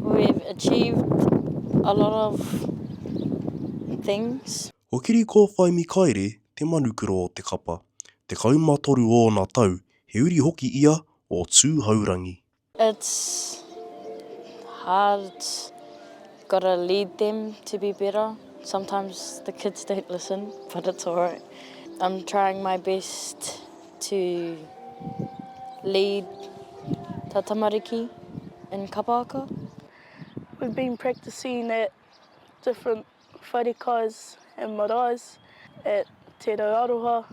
We've achieved a lot of things. Ko Kiri Kōwhai Mikaere te manukura o te kapa. Tekau ma toru ōna tau, he uri hoki ia o Tūhourangi. It's hard, you've got to lead them to be better, sometimes the kids don't listen but it's alright, I'm trying my best. to lead ta tamariki in Kapāka. We've been practising at different wharekais and marais at Te Rau Aroha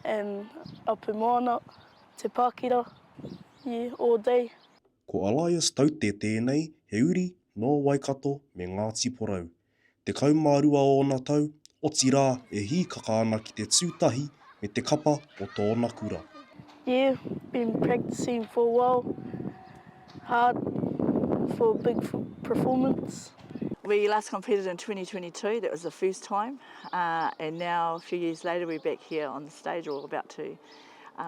and Apu Moana, Te Pakira, yeah, all day. Ko Alias Taute tēnei, he uri nō Waikato me Ngāti Porou. Tekau mā rua ōna tau, otirā e hīkaka ana ki te tū tahi me te kapa o tōna kura. Yeah, been practicing for a while hard for a big performance. We last competed in 2022, that was the first time, and now a few years later we're back here on the stage or about to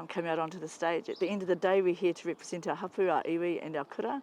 come out onto the stage. At the end of the day we're here to represent our hapu, our iwi and our kura.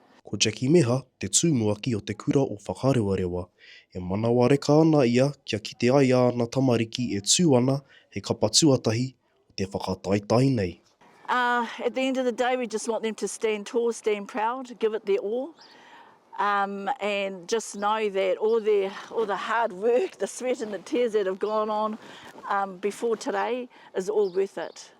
Ko Jackie Meha te tumuaki o te kura o Whakarewarewa. E manawareka ana ia kia kite ai āna tamariki e tū ana hei kapa tuatahi o te whakataetae nei. Uh, at the end of the day we just want them to stand tall, stand proud, give it their all um, and just know that all, their, all the hard work, the sweat and the tears that have gone on um, before today is all worth it.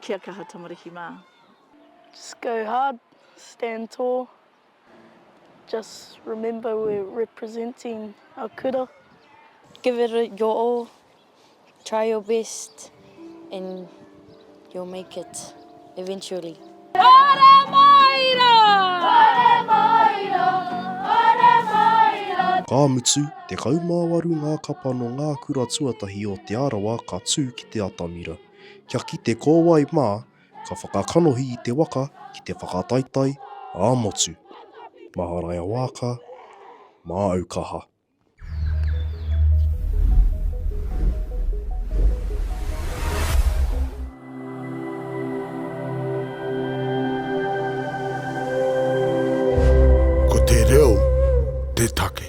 Kia kaha tamariki mā. Just go hard, stand tall, just remember we're representing our kura. Give it your all, try your best and you'll make it eventually. Hore Māiro! Hore Māiro! Hore Māiro! Ka mutu, 18 ngā kapa nō ngā kura tuatahi o Te Arawa ka tū ki te atamira. Kia kite ko wai mā ka whakakanohi i te waka ki te whakataetae ā-motu. Maharaia Waaka, māu kaha. Ko te reo te take.